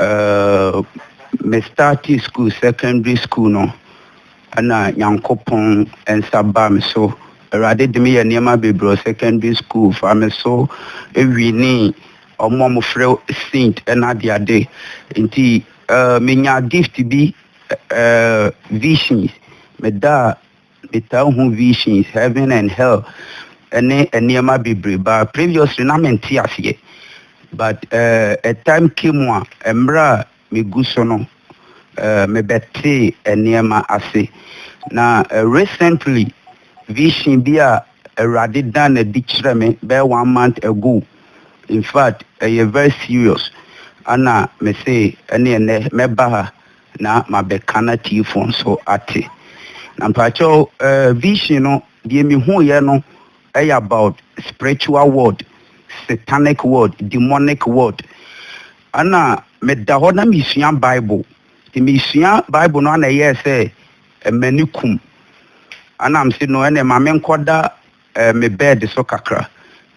Erm me startee school secondary school no ɛna nyankopɔn nsa baa me so awurade de me yɛ nneɛma bebree wɔ secondary school fa me so ewini ɔmo a wɔfrɛ saint ɛna ade ade nti ɛɛ menya gift bi ɛɛ visions meda Metaa hu visions, heaven and hell ne nneɛma bebree but previously na mente aseɛ but uh, a time came a mmerɛ a megu so no uh, mebɛtee nneɛma ase na uh, recently vision bi a Awurade dan no adi kyerɛ me bɛyɛ one month ago in fact ɛyɛ very serious ana mese ɛne ɛnɛ mɛba ha na mabɛka n'atiefo nso ate. Na mpakyɛw vision no deɛ mehuiɛ no yɛ about spiritual world, satanic world, demonic world. Ɛna meda hɔ na mesua bible, nti mesua bible no ana ɛyɛɛ sɛ m'ani kum, ɛna mese no ɛneɛ ma menkɔda eh, me bɛɛd so kakra.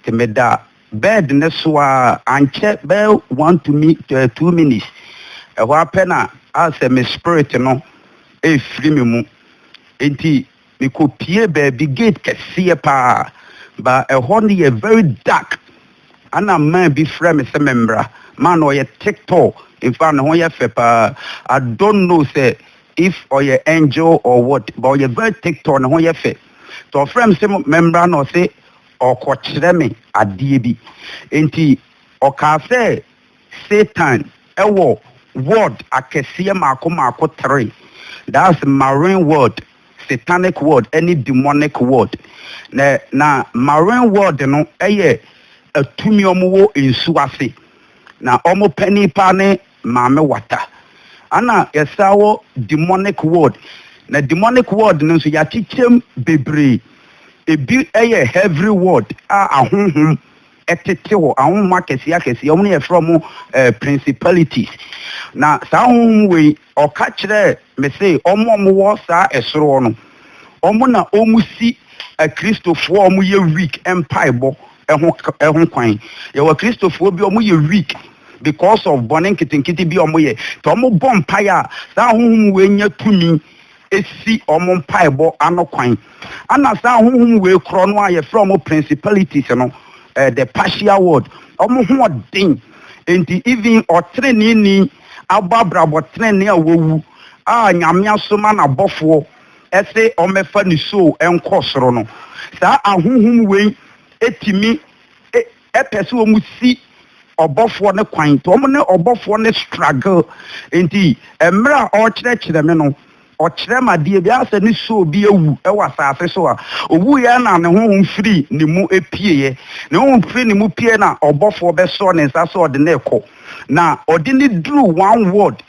Te meda bɛɛd no so ara, ankyɛ bɛyɛ one to mi eh, two minutes, ɛhɔ ara pɛ na ayɛ sɛ me spirit no ɛrefiri me mu. Enti mekɔpie baabi, gate kɛseɛ paa, ba ɛhɔ no yɛ very dark. Ana man bi frɛ me sɛ memmra. Man no ɔyɛ thick tall, in fact ne ho yɛ fɛ paa. I don't know sɛ if ɔyɛ angel or what, but ɔyɛ very thick tall, ne ho yɛ fɛ. Nti ɔfrɛ me se memmra na ɔse ɔrekɔkyerɛ me adeɛ bi. Nti ɔkaa sɛ Satan wɔ ward akɛseɛ mmaako mmaako three, that's marine ward, satanic ward ne demonic ward. Na na marine ward no yɛ atumi a wɔwɔ nsuo ase. Na wɔn panin paa ne Maame Wata. Ana yɛsan wɔ demonic ward na demonic ward no nso yɛakyekyɛm bebree. Ebi yɛ heavry ward a ahonhom tete hɔ, ahonhom akɛseɛ akɛseɛ, wɔn na yɛfrɛ wɔn principalities. Na saa ahonhom wei ɔka kyerɛɛ me se wɔn a wɔwɔ saa ɛsoro hɔ no wɔn na wɔsi akristofoɔ a wɔyɛ weak mpaebɔ ho ho kwan. Yɛwɔ Kristofoɔ bi a wɔyɛ weak because of bɔne nketenkete bi a wɔyɛ. Nti wɔbɔ mpaeɛ a, saa ahonhom wei nya tumi si wɔn mpaebɔ ano kwan. Ɛna saa ahonhom wei korɔ no a yɛfrɛ wɔn principalities no, eh, the partial world, wɔn ho ɔden. Nti even ɔteneneeni abɔ abrabɔ tenenee a wawu a Nyame asoma n'abɔfoɔ se ɔmmɛfa nisuo nkɔ soro no, saa ahonhom wei tumi pɛ se wɔsi ɔbɔfoɔ no kwan, nti wɔn ne ɔbɔfoɔ no struggle, nti mmerɛ a ɔrekyerɛkyerɛ me no, ɔkyerɛ me adeɛ bi ara sɛ ne soul bi awu wɔ asase so a, owuiɛ na ne honhom firi ne mu pieɛ, ne honhom firi ne mu pieɛ na ɔbɔfoɔ bɛsɔ ne nsa sɛ ɔde no rekɔ, na ɔde no duru one ward,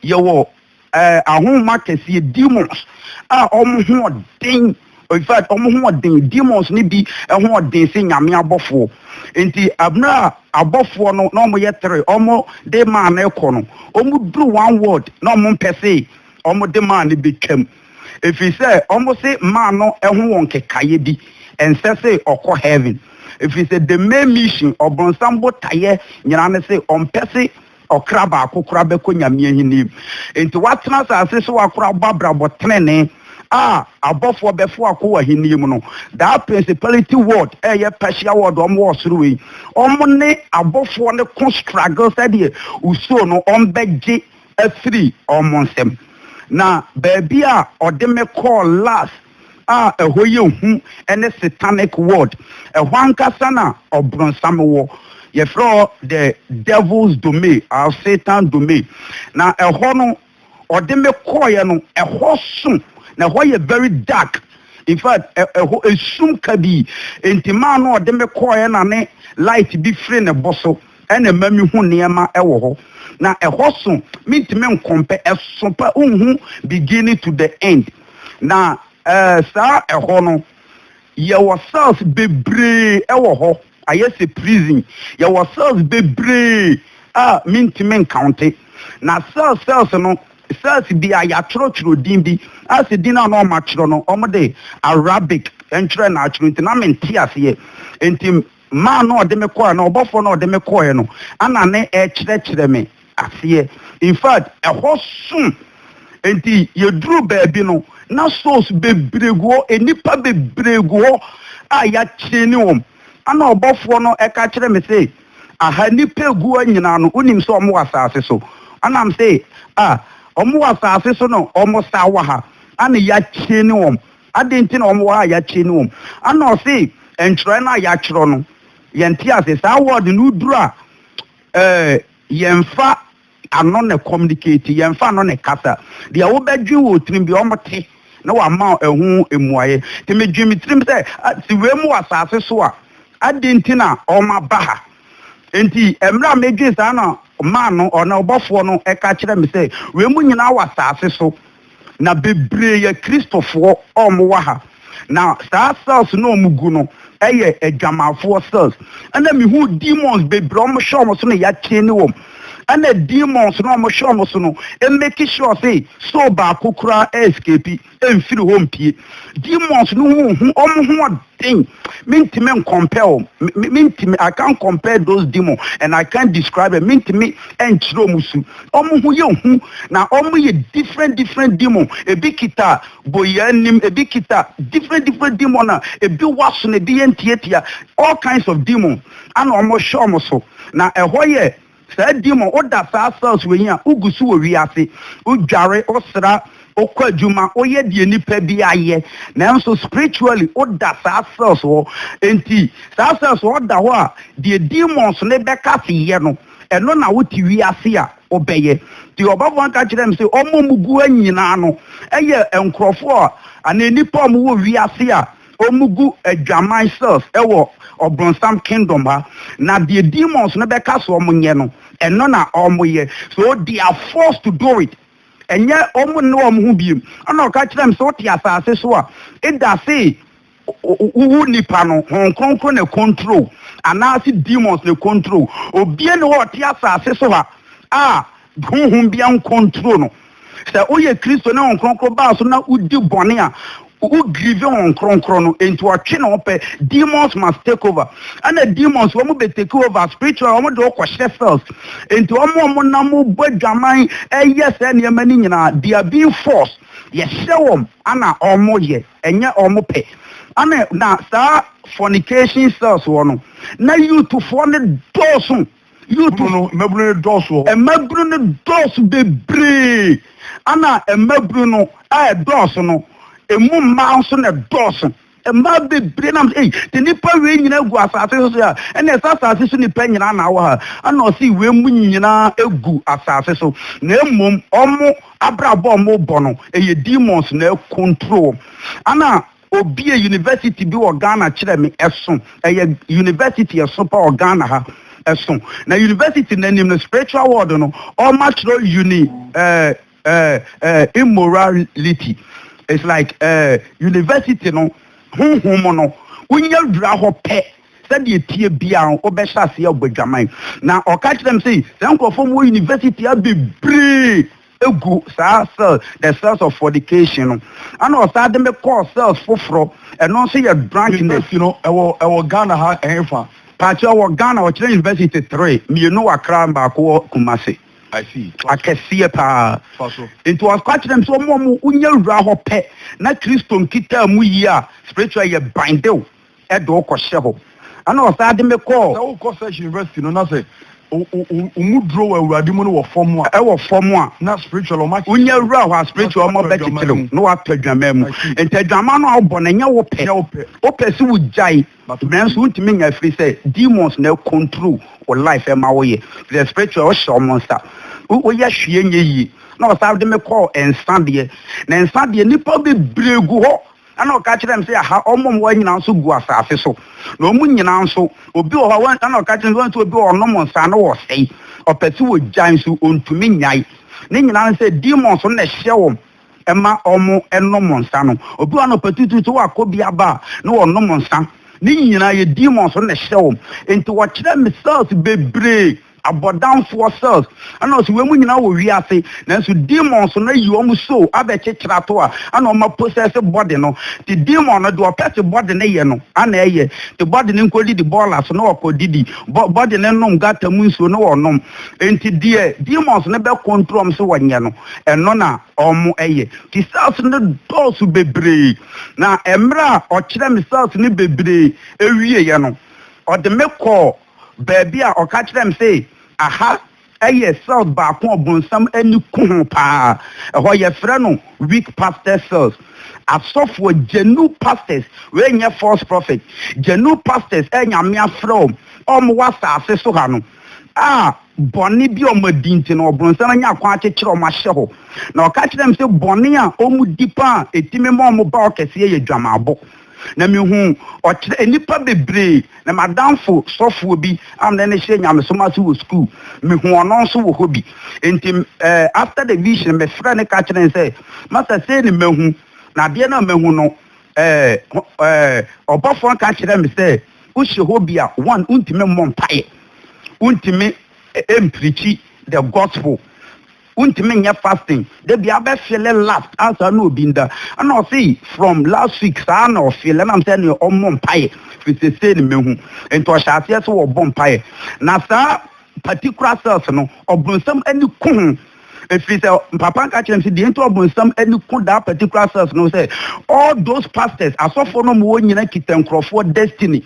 yɛwɔ. ahonhom akɛseɛ, demons, a wɔn ho ɔden, in fact, wɔn ho ɔden, demons no bi ho ɔden se Nyame abɔfoɔ. Nti, mmerɛ a abɔfoɔ no, na wɔyɛ tere, wɔn de maa no rekɔ no, wɔn duru one word, na wɔn mpɛ se wɔn de maa no bɛtwam. Ɛfiri sɛ, wɔn se maa no ho wɔ nkekaeɛ bi, ɛnsɛ se ɔkɔ heaven. Ɛfiri sɛ, the main mission, ɔbronsam botaeɛ nyinaa ne se, ɔmpɛ se Ɔkra baako koraa bɛkɔ Nyame ahenni mu. Enti woatena asase so akora abɔ abrabɔ trenee a abɔfoɔ bɛfo akɔ w'ahenni mu no, that principality world a ɛyɛ Persia world a wɔwɔ ɔsoro wei, wɔn ne abɔfoɔ no ko struggle sɛdeɛ wosuro no wɔbɛgye afiri wɔn nsam. Na baabi a ɔde me kɔɔ last, a ɛhɔ yɛ hu ne Satanic World. Ɛhɔ ankasa na Ɔbronsam wɔ. Yɛfrɛ hɔ The Devil's Domain or Satan's Domain. Na ɛhɔ no, ɔde me kɔeɛ no, ɛhɔ so, na ɛhɔ yɛ very dark. In fact, ɛhɔ esum kabii. Enti maa na ɔde me kɔeɛ na ne light bi firi ne bo so. Ɛna ɛma me hu nneɛma wɔ hɔ na ɛhɔ so me ntumi nkɔmpɛ ɛso pa wo nhu beginning to the end na ɛɛ saa ɛhɔ no yɛ wɔ cells bebree ɛwɔ hɔ ayɛ sɛ prison yɛ wɔ cells bebree a me ntumi nkawnte na cells cells no cells bi a yɛatwerɛ twerɛ din bi a sɛ din a na ɔma twerɛ no ɔmo de Arabic ntwerɛ na atwerɛ nti na me nte aseɛ nti Mma a na ɔde me kɔe anaa ɔbɔfoɔ no a ɔde me kɔeɛ no na ne ɛrekyerɛkyerɛ me aseɛ. In fact, ɛhɔ so nti yɛduruu baabi no, na souls bebree gu hɔ, nnipa bebree gu hɔ a yɛakyeene wɔn. Ɛna ɔbɔfoɔ no ka kyerɛɛ me se, Aha nnipa a ɛgu ha nyinaa no, wonim sɛ wɔwɔ asase so? Ɛna mese, Ah, wɔwɔ asase so na wɔsaa wɔ ha, ɛna yɛakyeene wɔn. Adɛn nti na wɔwɔ hɔ a yɛakyiri ne wɔn? Ana ɔse ntwerɛ no a yɛatwerɛ no yɛnte aseɛ? Saa word no duru a eh, yɛmfa ano na communicate, yɛmfa ano na kasa. Deɛ wobɛdwen wɔ wo tirim biara wɔn te na wɔama wo ɛho mmuaeɛ. Nti medwen me tirim sɛ, ah, se wei mo wɔ asase so a, adɛn nti na wɔn aba ha? Nti mmerɛ a medwen saa na man no, ɔno ɔbɔfoɔ no ka kyerɛ me sɛ, wei mo nyinaa wɔ asase so. Na bebree yɛ Kristofoɔ a wɔwɔ ha. Na saa cells no a wɔgu no yɛ adwamanfoɔ cells. Ɛna mehu demons bebree a wɔhyɛ wɔn so na yɛachaine wɔn. Ɛna demons no a wɔhyɛ wɔn so no make sure sɛ soul baako koraa escape mfiri hɔ mpue. Demons no ho hu wɔn ho thing mentumi nkɔmpɛ o mentumi I can't compare those demon and I can't describe it mentumi nkyerɛ ɔmo su ɔmo ho yɛ hu na ɔmo yɛ different different demon ebi kita boyɛ anim ebi kita different different demon na ebi wɔ aso na ebi yɛ ntiatia all kinds of demon ana ɔmo hwɛ ɔmo so na ɛhɔ yɛ Saa di mu, woda saa cells wei a, wogu so wɔ wiase, wodware, wosra, wokɔ adwuma, woyɛ deɛ nipa biara yɛ. Nanso spiritually, woda saa cells hɔ. Enti saa cells hɔ da hɔ a, deɛ demons no bɛka se yɛ no, ɛno na wote wiase a wobɛyɛ. Nti ɔbɔfoɔ no ka kyerɛɛ me se, wɔn a wɔgu hɔ nyinaa no yɛ nkurɔfoɔ a, anaa nnipa a wɔwɔ wiase a, Wɔgu adwaman cells wɔ ɔbronsam kingdom ha, na deɛ demons no bɛka sɛ wɔnyɛ no, ɛno na wɔyɛ. So they are forced to do it. Ɛnyɛ wɔn nne wɔn ho biom. Ɛna ɔka kyerɛɛ me sɛ, wote asase so a, edase wowo nipa no, Honhom Kronkron na ɛkɔntro wo, anaase demons na ɛkɔntro wo. Obia nni hɔ a ɔte asase so ha a, Honhom biara nkontrol no. Sɛ woyɛ Kristo na Honhom Kronkron baa so na wodi bɔne a, wo grieve Honhom Kronkron no, enti ɔtwe ne ho pɛ. Demons must take over. Ɛna demons wɔn bɛ take over spiritual, wɔn de wokɔ hyɛ cells. Enti wɔn a wɔn nam bɔ adwaman ɛyɛ sɛ nneɛma no nyinaa, they are being forced. Yɛhyɛ wɔn ana wɔn yɛ, ɛnyɛ wɔn pɛ. Ana na saa fornication cells wɔ no, na youthfoɔ no dɔɔso Youth no mmabunu no dɔɔso wɔ hɔ. Mmabunu no dɔɔso bebree. Ɛna mmabunu no ɛɛdɔɔso no, emu mmaa nso na ɛdɔɔso. Mmaa bebree nam sɛ, Ei, te nnipa wei nyinaa gu asase so sɛ a, ɛnneɛ sɛ asase so nnipa nyinaa na wɔ ha a, ɛna ɔse wei mu nyinaa gu asase so. Na mmom wɔn abrabɔ a wɔrebɔ no, ɛyɛ demons na ɛrecontrol wɔn. Ɛna Obiee university bi wɔ Ghana kyerɛ me, ɛso, ɛyɛ university ɛso pa wɔ Ghana ha, ɛso, na university no anim no spiritual world no ɔma twerɛ uni eh, eh, eh, immorality, it's like eh, university no honhom no, wonya wura hɔ pɛ, sɛdeɛ ɛteɛ biara no wobɛhyɛ aseɛ abɔ adwaman, na ɔka kyerɛ me sei, saa nkurɔfoɔ mu wɔ university ha bebree, gu saa cell the cells of fornication no ɛna ɔsan de me kɔɔ cells foforɔ ɛno nso yɛ drunkenness. University no ɛwɔ ɛwɔ Ghana ha ɛhefa? Paakyɛ ɛwɔ Ghana ɔkyerɛ university three mmienu wɔ Accra baako wɔ Kumasi. I see. Akɛseɛ paa. Fa so. Nti ɔka kyerɛ me sɛ ɔmo ɔmo wonya wura hɔ pɛ na Kristo nkitaa mu yie a spiritual yɛ bind wo. de wo kɔhyɛ hɔ. Ɛnna ɔsan de me kɔɔ. Sɛ wokɔ Search University no, na sɛ wo mu duro wɔ Awurade mu no wɔ fam a. Ɛwɔ fam a. Na spiritual wɔn akyekyere wo. Wonya wura hɔ a, spiritual wɔn bɛkyekyere wo na woatɔ adwaman mu. Nti adwaman no a wobɔ no, ɛnyɛ wo pɛ. Wopɛ sɛ wogyae, nanso wontumi nya ɛfiri sɛ demons na ɛcontrol wo life ɛma woyɛ. Ɛfiri sɛ spiritual wohyɛ wɔn nsa, woyɛ hwee nyɛ yie. Ɛnna ɔsan de me kɔɔ nsa deɛ. Na nsa deɛ, nnipa bebree gu hɔ. Ɛnna ɔka kyerɛɛ me sɛ, Yɛaha wɔn a wɔwɔ ha nyinaa nso gu asase so, na wɔn nyinaa nso, obi wɔ hɔ a wɔn, ɛnna ɔka kyerɛɛ me sɛ, wɔn nso obi wɔ hɔ a ɔnom nsa a na ɔresɛe, ɔpɛ sɛ ogyae nso ontumi nnyae. Ne nyinaa ne sɛ demons no na ɛhyɛ wɔn ma wɔnom nsa no. Obi wɔ hɔ a anɔpa tuutuu sɛ wakɔ bi aba a, na wɔnom nsa. Ne nyinaa yɛ demons no na ɛhyɛ wɔn. Enti wɔkyerɛɛ me cells bebree. Abɔdamfoɔ cells ɛna ɔsi wei mo nyinaa wɔ wiase nanso demons no ayi wɔn soul abɛkyekyere ato a ɛna wɔn apossess body no te demon no deɛ ɔpɛ te body no yɛ no ɛna ɛyɛ te body no nkɔ didi bolas na ɔkɔ didi bɔ body no nom gutter mu nsuo na ɔnom nti deɛ demons no bɛ control wɔn sɛ wɔnyɛ no ɛno na wɔn ɛyɛ nti cells no dɔɔso bebree na ɛmmerɛ a ɔkyerɛ me cells no bebree ɛwieɛ no ɔde me kɔɔ. baabi a ɔka kyerɛɛ me se aha yɛ cells baako a ɔbonsam ani ku ho paa. Ɛhɔ yɛfrɛ no weak pastor cells. Asɔfoɔ, gyenu pastors, wei nyɛ false prophet, gyenu pastors a Nyame afrɛ wɔn a wɔwɔ asase so ha no a bɔne bi a wɔn adi nti no ɔbonsam anya kwan akyekyere wɔn ahyɛ hɔ. Na ɔka kyerɛɛ me se bɔne a wɔn di paa a ɛtumi ma wɔn ba ɔkɛseɛ yɛ dwamaabɔ. na mihuu ɔkyerɛ nnipa bebree, na m'adamfo sɔfoɔ bi a na ne hyɛ nyamesom ase wɔ sukuu, mehuu ɔno nso wɔ hɔ bi. Enti eh, after the vision, mefrɛ no ka kyerɛ no sɛ, Masa, sei ne mahu, na adeɛ no a mahu no, eh, eh, ɔbɔfoɔ no ka kyerɛ me sɛ, wohyɛ hɔ bi a, one, wontumi mmɔ mpaeɛ, wontumi eh, mprikyi the gospel, Wontumi nyɛ fasting da biara bɛ feele last a saa na obi nda ɛna ɔse from last week saa na ɔfeele ɛnam sɛ ɛneɛ ɔmmɔ mpaeɛ firi sesei ne mahu nti ɔhyɛ aseɛ sɛ ɔbɔ mpaeɛ na saa particular cells no ɔbronsam ani ko ho ɛfiri sɛ papa nka kyerɛ me sɛ deɛ nti ɔbronsam ani ko that particular cells no sɛ all those pastors asɔfoɔ no ma wɔn nyina kita nkurɔfoɔ destiny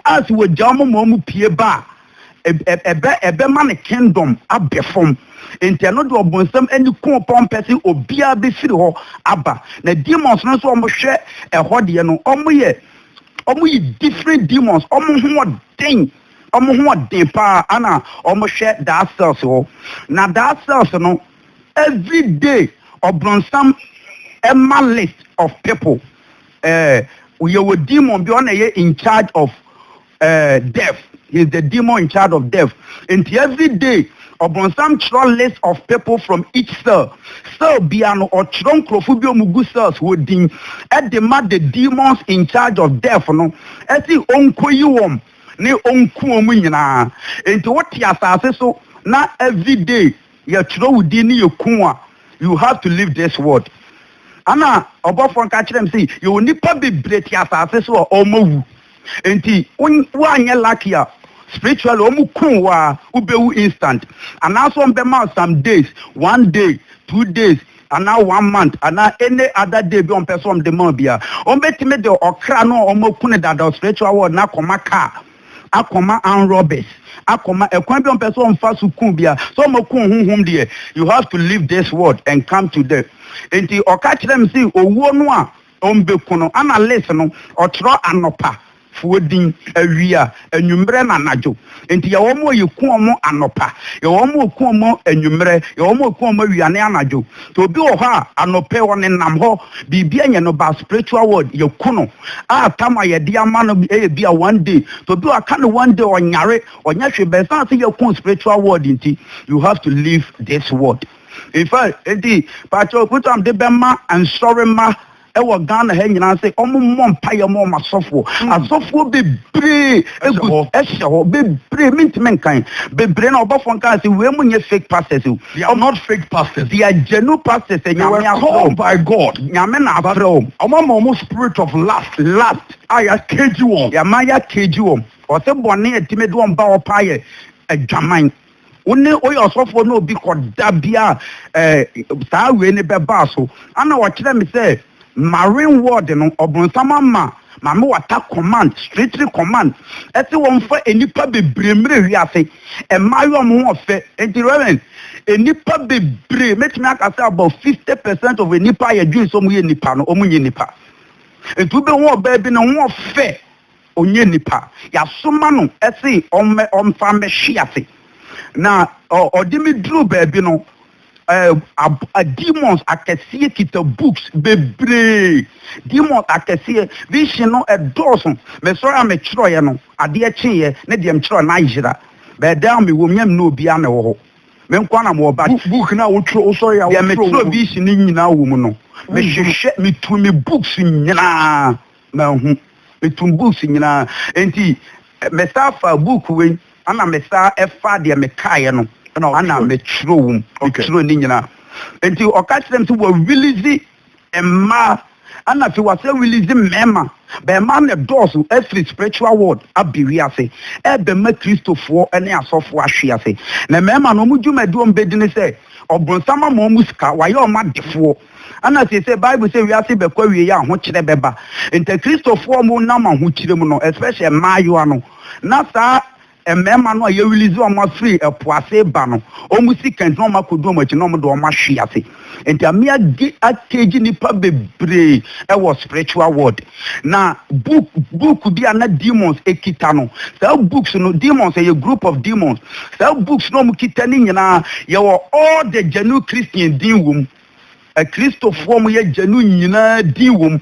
a sɛ wɔgya wɔn ma wɔn pie ba a ɛbɛ ɛbɛma ne kingdom abɛ fam nti ɛno deɛ ɔbonsam ani kɔn pɔn pɛ sɛ obiara bɛfiri hɔ aba na demons no nso wɔn hwɛ ɛhɔ deɛ no wɔn yɛ wɔn yɛ different demons wɔn ho ɔden wɔn ho ɔden paa ana wɔn hwɛ daa cells hɔ na daa cells no every day ɔbonsam ɛma list of people ɛɛ eh, yɛ wɔ demon bi ɔna yɛ in charge of eh, death, he's the demon in charge of death, nti every day ɔbonsam twerɛ list of people from each cell, cell bia no ɔtwerɛ nkurɔfo bi ɔmu gu cells hɔ din ɛde ma the demons in charge of death no ɛse ɔnkɔyi wɔm ne ɔnku ɔmu nyinaa, nti wote asase so na every day yɛtwerɛ wo din ne yɛku wo a you have to leave this world. Ana ɔbɔfoɔ nka kyerɛ me se yɛwɔ nipa bebree te asase so a ɔmɔ wu. Enti woanyɛ lucky a spiritually wɔn kum wo a wobɛwu instant anaasɛ wɔn bɛma wo some days, one day, two days anaa one month anaa any other day bi a wɔn pɛ sɛ wɔn de ma wo bia. Wɔn bɛtumi de ɔkra no a wɔn aku no dada wɔ spiritual world no akɔma car, akɔma armed robbers, akɔma ɛkwan bi a wɔn pɛ sɛ wɔn fa so kum bia. Sɛ wɔn aku wo honhom deɛ you have to leave this world and come to the. Enti ɔka kyerɛ me se owuo no a. Ɔmmbɛku no. Ana Liz no, ɔkyerɛ anɔpa foɔ din, awia, anwummerɛ na anadwo. Enti yɛwɔ wɔn a yɛku wɔn anɔpa, yɛwɔ wɔn a wɔku wɔn anwummerɛ, yɛwɔ wɔn a wɔku wɔn awia ne anadwo. Nti obi wɔ hɔ a, anɔpa yi ɔnenam hɔ, biribi anyɛ no, but spiritual world, yɛaku no. A tam a yɛde ama no yɛ ebia one day. Nti obi wɔ hɔ a, aka no one day, ɔnyare, ɔnyɛ hwee, but ɛsiane sɛ yɛaku wo spiritual world nti, you have to leave this world. Mfa nti pakyɛw Kutam de bɛma nsɔremma wɔ Ghana ha nyinaa sɛ wɔn mmɔ mpaeɛ ma wɔn asɔfoɔ. Asɔfoɔ bebree egu ɛhyɛ hɔ bebree mintumi nkan bebree na ɔbɔfoɔ nkan sɛ wei mu nyɛ fake pastors o. They are not fake pastors. They are genuine pastors. They were called by God. Nyame na afrɛ wɔn. Wɔn ama wɔn spirit of lust. Lust a yɛ cage wɔn. Yɛama yɛ cage wɔn. Ɔse bɔne a ɛtumi de wɔn ba hɔ paa yɛ adwaman. wo ne woyɛ ɔsɔfoɔ ne obi kɔ da bi a ɛɛ saa wei ne bɛbaa so ana ɔkyerɛ me sɛ marine ward no ɔbonsam ama maame wata command strictly command ɛsɛ wɔn fa nnipa bebree mmerɛ wiase ɛmaa yɛ wɔn ho ɔfɛ nti reverend nnipa bebree mɛtumi aka sɛ about fifty percent of nnipa a yɛdwene sɛ wɔn yɛ nnipa no wɔn nyɛ nnipa nti wobɛhu ɔbaa bi ne ho ɔfɛ Ɔnyɛ nipa. Yɛasoma no se ɔmmɛ ɔmfa mmɛhwe ase. Na ɔde me duruu baabi no, ab demons akɛseɛ kita books bebree. Demons akɛseɛ. Vision no ɛdɔɔso. Mesɔre a metwerɛeɛ no, adeɛ kyeeɛ ne deɛ metwerɛeɛ no ayera. But then mewɔ mu na menni obiara na ɛwɔ hɔ. Me nko ara na mewɔ but. Book no a wotwerɛ, wosɔre a wotwerɛ wɔ mu no. Deɛ metwerɛ vision no nyinaa wɔ mu no, mehwehwɛ, metuu me books nyinaa. Mahu metum books nyina ntsi mesaa faa book wei ana mesaa faa deɛ mekaaɛ no ana metwerɛ wom metwerɛ ne nyina ntsi ɔka kyerɛ me sɛ wa release mmaa ana afei wa sɛ release mmɛɛma bɛɛma na dɔɔso afiri spiritual world abɛ wiase ɛɛbɛ ma kristofoɔ ne asɔfoɔ ahwe ase na mmɛɛma no ɔmo dwumadie ɔmo bɛ di ne sɛ ɔbronsam ama ɔmo sika wa yɛ ɔmo adefoɔ Ana seesei Bible sɛ wiase bɛkɔ awiei a ahokyerɛ bɛba nti Kristofo a wɔn nam ahokyere mu no especially mmaayewa no na saa mmarima no a yɛ release wɔn afiri ɛpo ase reba no wɔn si kɛntɛn na wɔn akɔdu wɔn akyi na wɔn de wɔn ahwe ase nti ame age cage nnipa bebree ɛwɔ spiritual world Na book book bi a na demons kita no saa books no demons ɛyɛ group of demons saa books na wɔn kita ne nyinaa yɛwɔ all the genuine christian din wɔm akristofoɔ wɔn yɛ genuine nyinaa din wɔm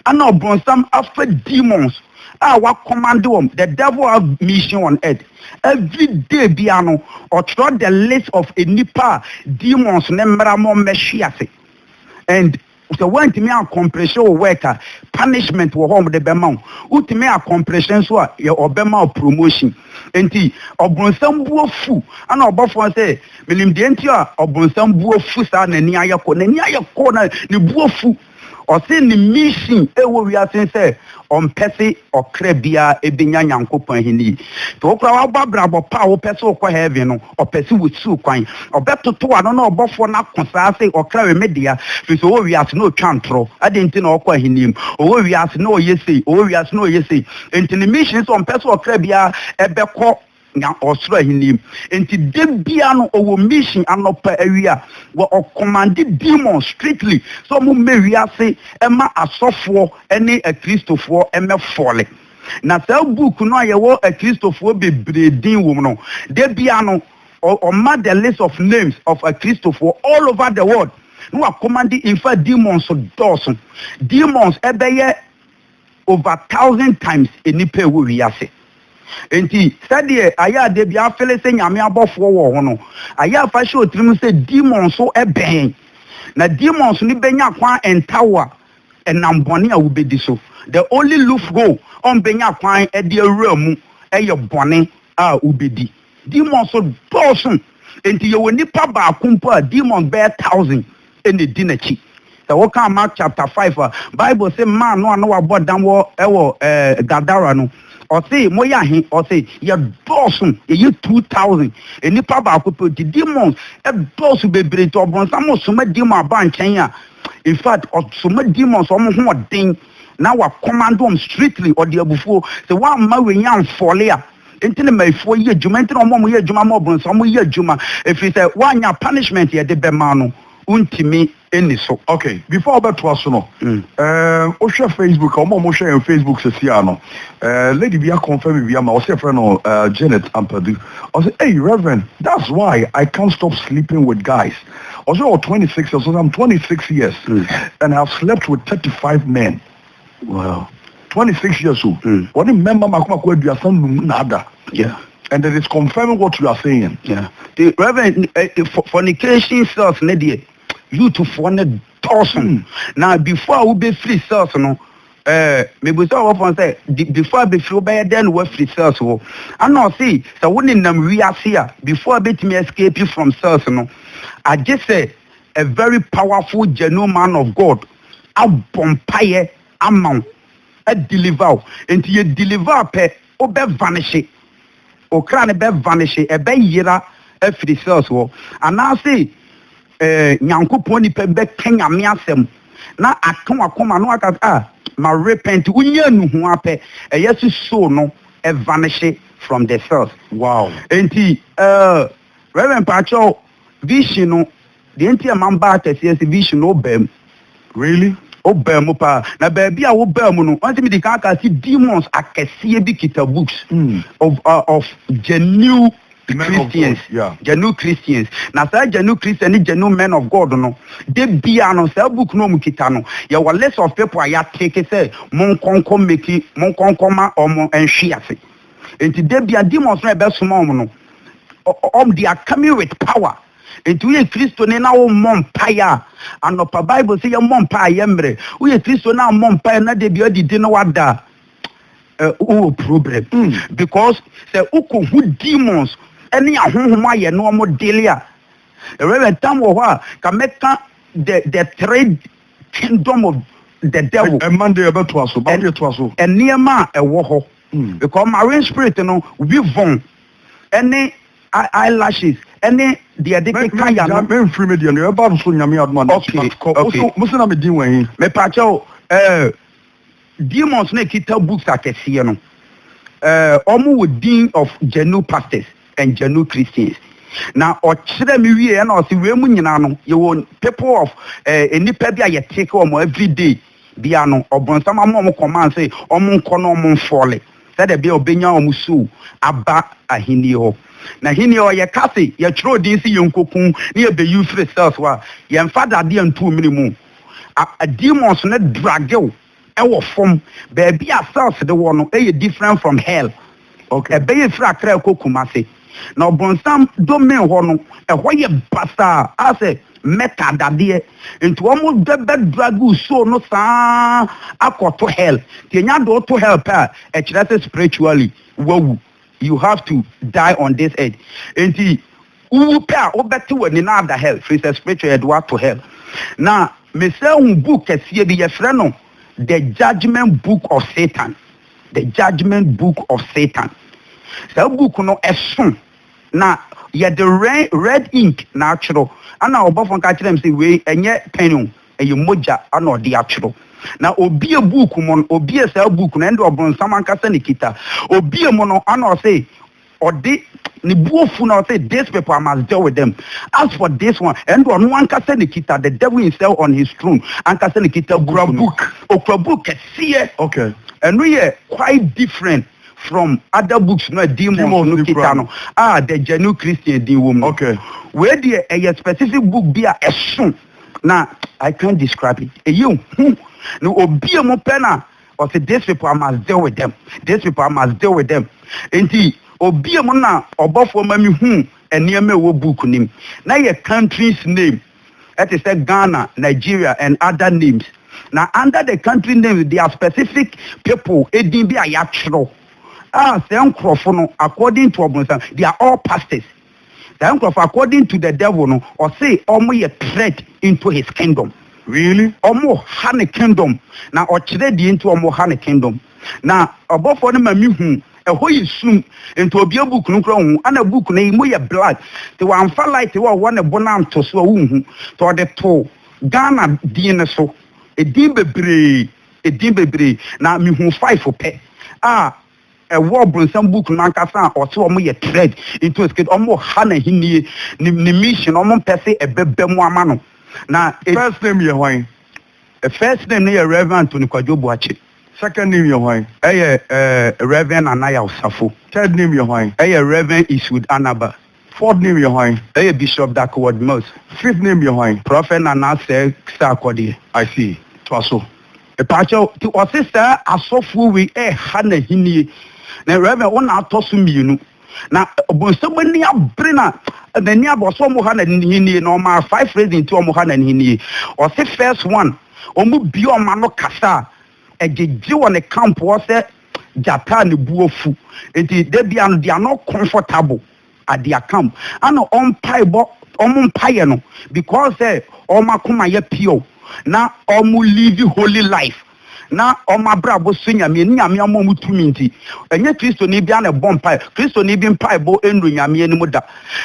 ɛna ɔbronsam afa demons a wa command wɔm the devil have mission on earth every day bia no ɔtwerɛ the list of nipa demons ne mmara mo mmɛhwe ase and Sɛ woantumi ankɔmplehye wo work a, punishment wɔ hɔ a wɔde bɛma wo. Wotumi akɔmplehye nso a, yɛ wɔbɛma wo promotion. Enti ɔbronsam bo afu. Ɛna ɔbɔfoɔ no sɛ, Menim deɛ nti a ɔbronsam bo afu saa, n'ani ayɛ kɔ. N'ani ayɛ kɔ na ne bo afu. Ɔse ne mission ɛwɔ wiase ne sɛ ɔmpɛ se ɔkra biara benya Nyankopɔn Ahenni. Sɛ wo koraa wabɔ abrabɔ pa a wopɛ se wokɔ Heaven no, ɔpɛ se wusiw kwan. Ɔbɛtotow ano ne ɔbɔfo no ako saa se, Ɔkra we me dea, efisɛ ɔwɔ wiase na otwa ntorɔ. Adɛn nti na ɔkɔ Ahenni mu? Ɔwɔ wiase na ɔyɛ sei, ɔwɔ wiase na ɔyɛ sei. Enti ne mission ne sɛ ɔmpɛ sɛ ɔkra biara bɛkɔ nya ɔsoro ahenni. Enti da biara no ɔwɔ mission anɔpa awia wɔ ɔkɔmande demon strictly sɛ ɔmo mmɛ wiase ɛma asɔfoɔ ɛne akristofoɔ ɛmɛ fɔle. Na saa book no a yɛwɔ akristofoɔ bebree din wɔ mu no da biara no ɔma the list of names of akristofoɔ all over the world na wakɔmande infact demons dɔɔso demons ɛbɛyɛ over thousand times nnipa a ɛwɔ wiase. Enti sɛdeɛ ayɛ a da bi ara fele sɛ Nyame abɔfoɔ wɔ hɔ no, ayɛ a fa hyɛ wo tirim sɛ demons nso bɛn. Na demons no bɛnya kwan nta wo a ɛnam bɔne a wobɛdi so. The only loophole a wɔbɛnya kwan de awura mu yɛ bɔne a wobɛdi. Demon nso dɔɔso, enti yɛwɔ nipa baako mpo a demon bɛyɛ thousand na edi n'akyi. Sɛ wokan Mark chapter five a, Bible se mmaa no a na wɔabɔ dam wɔ wɔ Gadara no, ɔse, Moyɛ ahe? Ɔse, Yɛdɔɔso, yɛyɛ two thousand. Nipa baako pɛ o, enti demon dɔɔso bebree, enti ɔbonsam soma demon aba nkyɛn a, in fact, ɔsoma demon sɛ wɔn ho ɔden na wa command wɔn strictly, ɔde abufuo, sɛ woamma wei amfɔle a, Nti ne maifoɔ yɛ adwuma nti na wɔn a wɔyɛ adwuma ma ɔbronsam wɔn yɛ adwuma ɛfiri sɛ wanya punishment yɛde bɛma no wontumi nni so. Ok before wo bɛ toa so no eh wo hwɛ Facebook a wɔn a wɔn hwɛ yɛn Facebook sɛsi a no eh lady bi a confirm bi ama ɔse yɛfrɛ no eh Janet Ampadu ɔse ei Reverend that's why I can't stop sleeping with guys ɔse ɔwɔ 26 years ɔse I'm 26 years and I have slept with 35 men. Wow. Twenty six years o, wɔne mmɛma mako mako aduasa num na ada. Yeah. And it is confirming what you are saying. Yeah. The reverend eh, eh, fo- fornication cells ne deɛ youthfoɔ ne dɔɔso Hmm. na before a wobɛfiri cells no eh, mebusa wɔfoɔ sɛ de- before a bɛfiri wobɛyɛ dɛn na woafiri cells hɔ ana ɔse sɛ wo nenam wiase a before a bɛtumi escape from cells no agye sɛ a very powerful genuine man of god abɔ mpaeɛ ama wo a deliver wo nti yɛ deliver a pɛ wo bɛ vanishye wo kra no bɛ vanishye ɛbɛ yera afiri cells hɔ anaase eh, Nyankopɔn nipa bɛ ka Nyame asɛm na aka wakoma no aka ah ma repent wo nya nu ho a pɛ ɛyɛ so soul no vanishye from the cells wow nti eh, Reverend Pacho vision no Deɛ nti a mambaa akɛseɛ sɛ vision no wobaa mu. Really? Wobaa mu paa. Na baabi a wobaa mu no, wɔnse mede kan kaa se demons akɛseɛ bi kita books of uh, of genuine Men of God, Christians, yeah. genuine Christians. Na saa genuine Christian ne genuine men of God no, de bia no saa book no wɔn kita no, yɛwɔ list of people a yɛateke sɛ monkɔnkɔ meki, monkɔnkɔ ma wɔn nhwe ase. Nti da bia demons no a ɛbɛsoma wɔn no, ɔ- ɔ- wɔn they are coming with power. Enti woyɛ Kristoni na wommɔ mpae a, anɔpa Bible sɛ yɛmmɔ mpae a yɛ mmerɛ. Woyɛ Kristoni na ammɔ mpae na da bi adidi na wada a, eh, wowɔ problem. Mm. Because sɛ wokɔhu demons ne ahonhom ayɛ na wɔn dele a, Reverend tam wɔ hɔ a, ka mɛka the, the three kingdom of the devil. Ɛma deɛ ɛbɛtoa so, ba deɛ toa so. Nneɛma a ɛwɔ hɔ. Because marine spirit no obi von ɛne eye lashes ɛne deɛ yɛde keka yano. Mɛgya mɛnfiri me deɛ no ɛbɛba no so Nyame adom a na akyi but kɔ wo so mose na me din wɔ he? Mepaakyɛw eh demons na ɛkita books akɛseɛ no eh ɔmo wɔ din of genuine pastors and genuine Christians na ɔkyerɛ me wie ɛna ɔse wei mu nyinaa no yɛwɔ people of eh nnipa bi a yɛtake wɔn everyday bea no, Ɔbonsam ama wɔn kɔmaa sɛ wɔnkɔ na wɔmfɔle sɛdeɛ ɛbɛyɛ a wɔbɛnya wɔn so aba Ahennie hɔ. Na Ahennie hɔ, yɛka se yɛtwerɛ din se yɛnkɔku na yɛbɛyi firi cells hɔ a, yɛmfa dadeɛ nto wo mene mu. A, demons no drage wo wɔ fam. Baabi a cells no wɔ no yɛ different from hell. Ok, ɛbɛyɛ firi Accra kɔ Kumasi. Na ɔbonsam domain hɔ no, ɛhɔ yɛ basaa a sɛ Mecca dadeɛ. Nti wɔn bɛ bɛ drag wo soul no saa akɔ to hell. Nti ɛnyɛ ade woto hell pɛ a, ɛkyerɛ sɛ spiritually wawu. You have to die on this earth. Nti wowu pɛ a, wobɛte w'ani na ada hell, firi sɛ spiritually yɛde wo ato hell. Na mesan hu book kɛseɛ bi, yɛfrɛ no The Judgement Book of Satan. The Judgement Book of Satan. Saa book no ɛso na yɛde red ink na atwerɛ. Ɛna ɔbɔfoɔ no ka kyerɛɛ me sɛ wei ɛnyɛ pen o, ɛyɛ mogya na ɔde atwerɛ. Na ɔbue book mu no, ɔbue saa book no, ɛnde ɔbronsam ankasa na ɛkita. Ɔbue mu no ɛna ɔse Ɔde Ne bo afu na ɔse, These people, I must deal with them. As for this one, ɛno deɛ ɔno ankasa na ɛkita, the devil himself on his throne, ankasa na ɛkita book no. Ɔkura book. Ɔkura book kɛseɛ. Okay. Ɛno yɛ quite different from other books no a demons no kita no a the genuine Christian din wɔ mu no. Okay. Wei deɛ ɛyɛ specific book bi a ɛso na I can't describe it. Ɛyɛ hu na obie mu pɛ na ɔse this people I must deal with them this people I must deal with them nti obie mu na ɔbɔfoɔ ma me hu nneɛma ɛwɔ book nim na yɛ countries name ɛte sɛ Ghana Nigeria and other names na under the country names there are specific people edin bi a yɛatwerɛ a sɛ nkorɔfo no according to ɔbonsam they are all pastors Saa nkurɔfo according to the devil no ɔse ɔmo yɛ threat into his kingdom. Really? Ɔmo ha ne kingdom na ɔkyerɛ deɛ nti ɔmo ha ne kingdom. Na ɔbɔfoɔ no ma me hu ɛhɔ yɛ sum nti obue book no koraa onhu ɛna book no mu yɛ black nti wamfa light a ɔwɔ ne bo no anto so a wonhu nti ɔde too Ghana din no so. Edin bebree edin bebree na me hu five pɛ a Ɛwɔ ɔbronsam book no ankasa a ɔse ɔmo yɛ threat into his kingdom, ɔmo ha n'ahennie, ne ne mission, ɔmo mpɛ se ɛbɛba mu ama no, na it. First name yɛ hwan? First name no yɛ Rev. Anthony Kwadwo Boakye. Second name yɛ hwan? Ɛyɛ Rev. Anaya Osafo. Third name yɛ hwan? Ɛyɛ Rev. Eastwood Anaba. Fourth name yɛ hwan? Ɛyɛ Bishop Duckworth Mills. Fifth name yɛ hwan? Prɔfɛt Nana Sɛɛ Sarkodie. I see. Toa so. Mpaakyɛw, nti ɔse saa asɔfoɔ wei ɛɛha n'ahennie. Na Rev. Wo na atɔ so mmienu. Na Ɔbonsam ani abere na n'ani abere. Ɔse wɔn ha n'ahennie. Na ɔmaa five reasons nti wɔn ha n'ahennie. Ɔse first one, wɔn bue wɔn ano kasa a, ɛgyegye wɔ ne camp hɔ sɛ, gyata a ne bo afu nti da biara no they are not comfortable at their camp ana ɔmpaebɔ wɔn mpaeɛ no because sɛ wɔn akoma yɛ pure na wɔn live holy life na wɔn abrabɔ so nyame ne nyame ama wɔn tumi nti ɛnyɛ kristoni biara na ɛbɔ mpae kristoni bi mpaebɔ nnuru nyame anim da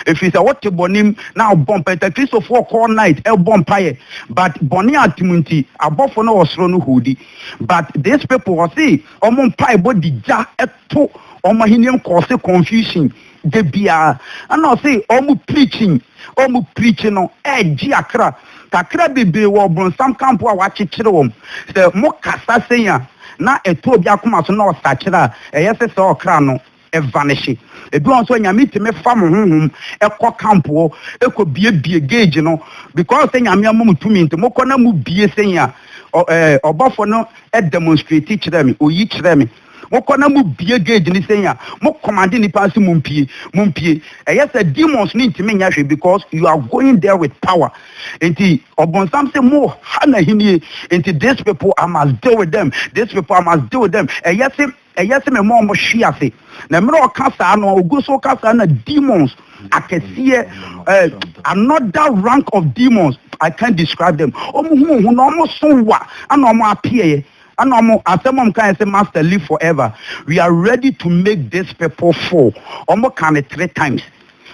ɛfiri sɛ wote bɔnem na abɔ mpae ta kristofoɔ call night ɛbɔ mpaeɛ but bɔne atem nti abɔfo no wɔ soro no hodi But this people ɔse ɔmo mpaebɔ de gya to ɔmo ahenni nkɔɔse confusion da biara ɛna ɔse ɔmo preaching ɔmo preach no ɛgye akra kakra bebree wɔ ɔbronsam camp a wakyekyere wɔn sɛ mo kasa sɛn a na ɛtɔ obi akoma so na ɔsakyera a ɛyɛ sɛ sɛ ɔkra no Evanehye. Ebi wɔ hɔ nso a, Nyame tumi fa mo honhom kɔ camp hɔ, kɔ biebie gauge no, because sɛ Nyame ama mo tumi nti, mokɔ na mo bie sɛn a, ɔ ɛɛ, ɔbɔfo no demonstrate kyerɛɛ me, oyi kyerɛɛ me. Mokɔ na mo bie gauge no sɛn a, mo command nnipa no sɛ mo mpie, mo mpie. Ɛyɛ sɛ demons no ntumi nyɛ hwee because you are going there with power. Nti ɔbonsam se mo ha n'ahennie, nti these people I must deal with them, these people I must deal with them. Ɛyɛ se Ɛyɛ sɛ mema wɔn hwe ase. Na mmerɛ a ɔka saa no, ɔgu so reka saa na demons akɛseɛ, eh, another rank of demons, I can't describe them, wɔn hu wɔn ho na wɔn so wa, ɛna wɔn apeɛɛ, ɛna wɔn, asɛm a wɔn kaeɛ sɛ, Master, live forever, we are ready to make these people fall, wɔn kaa no three times,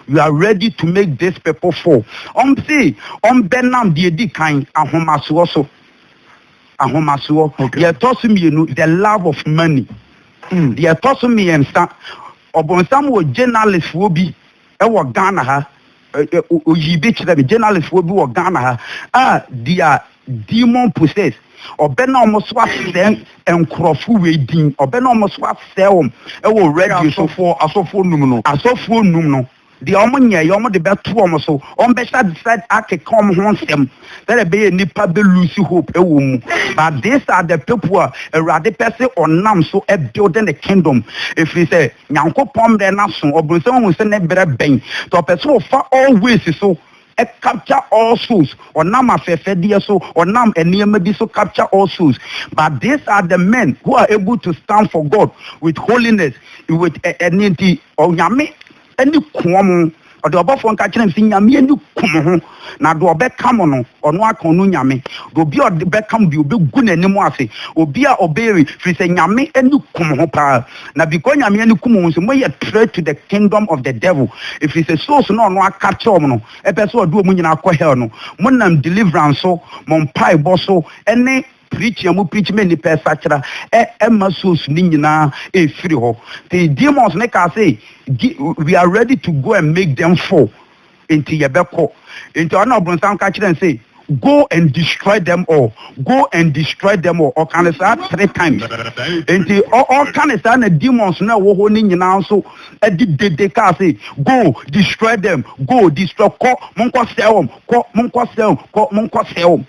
we are ready to make these people fall, wɔn se wɔn bɛnam deɛ ɛdi kan, ahomasoɔ so. ahomasoɔ. Deɛ ɛtɔ so mmienu, the love of money. Deɛ ɛtɔ so mmiɛnsa, ɔbonsam wɔ journalistfoɔ bi wɔ Ghana ha, ɔyii bi kyerɛ me, journalistfoɔ bi wɔ Ghana ha a deɛ demon possess, ɔbɛ na wɔn so asɛe nkurɔfo wei din, ɔbɛ na wɔn so asɛe wɔn wɔ radio so. Asɔfoɔ num no. Asɔfoɔ num no. Deɛ wɔnyɛɛ yɛ wɔde bɛto wɔn so, wɔbɛhyɛ aseɛ akeka wɔn ho nsɛm sɛdeɛ ɛbɛyɛ a nnipa bɛ lose hope wɔ wɔn mu but these are the people a Awurade pɛ sɛ ɔnam so build ne kingdom ɛfiri sɛ Nyankopɔn mmerɛ no aso, ɔbronsam ahu sɛ ne berɛ bɛn nti ɔpɛ sɛ ɔfa all ways so capture all souls ɔnam afɛfɛdeɛ so ɔnam nneɛma bi so capture all souls but these are the men who are able to stand for God with holiness with ɛ ɛne nti Onyame ani ku wɔn ɔde ɔbɔfoɔ nka kyerɛ me sɛ Nyame ani ku mo ho na deɛ ɔbɛka mo no ɔno aka ɔno Nyame deɛ obi a ɔde bɛka mo deɛ ɔbɛgu n'anim ase obi a ɔbɛyɛ wei firi sɛ Nyame ani ku mo ho paa. Na bikɔ Nyame ani kum wo nso mo yɛ threat to the kingdom of the devil ɛfiri sɛ souls no a ɔno aka kyerɛ wɔn no ɛpɛ sɛ ɔde wɔn nyinaa akɔ hell no mo nam deliverance so mo mpaebɔ so ɛne preaching a mo preach ma nnipa ɛsakyera ɛ ɛma souls no nyinaa ɛfiri hɔ nti demons no kaa sɛ we are ready to go and make them fall Enti yɛbɛkɔ. Enti ɔno na ɔbonsam ka kyerɛɛ no sɛ, Go and destroy them all, go and destroy them all. Ɔka no saa three times. Enti ɔ, ɔka no saa na demons no a ɛwɔ hɔ no nyinaa nso de dede kaa sɛ, Go, destroy them, go, destroy, kɔ, monkɔsɛe wɔn, kɔ, monkɔsɛe wɔn, kɔ, monkɔsɛe wɔn.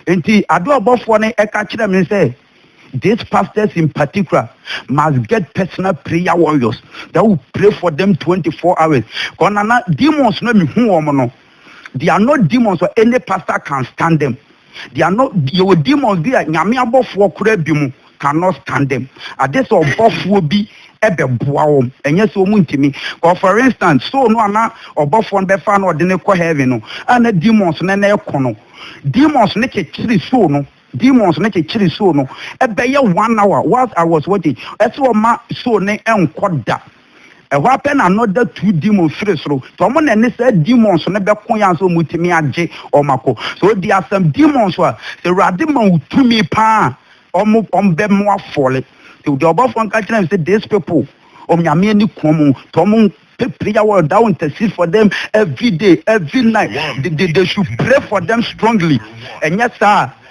Enti ade a ɔbɔfoɔ no ka kyerɛɛ me ne sɛ, These pastors in particular must get personal prayer warriors that will pray for them 24 hours. Because na na demons no mehu wɔn no, they are not demons or any pastor can stand them. They are not, yɛwɔ demons bi a nyame abɔfoɔ koraa bi mu. cannot stand them ade sɛ ɔbɔfoɔ bi bɛboa wɔn ɛnyɛ sɛ wɔn ntumi kɔ for instance soul no a na ɔbɔfoɔ no bɛfa na ɔde no kɔ heaven no a na demons no na ɛkɔ no demons no kyekyere soul no demons no kyekyere soul no ɛbɛyɛ one hour whilst I was watching ɛsɛ ɔma soul no nkɔ da Ɛhɔ ara pɛ na another two demons firi soro. Nti wɔn na ɛne saa demons no bɛko yɛ ansa wɔatumi agye wɔn akɔ. Sɛ ɔdi asɛm demons a, sɛ Awurade ma wo tumi paa a, wɔn wɔn bɛmo afɔle. Nti deɛ ɔbɔfoɔ nka kyerɛ no sɛ these people, wɔn Nyame ani ku wɔn. Nti wɔn pɛ prayer wɔ thou intercede for them every day, every night. They, they, they should pray for them strongly. Ɛnyɛ saa a,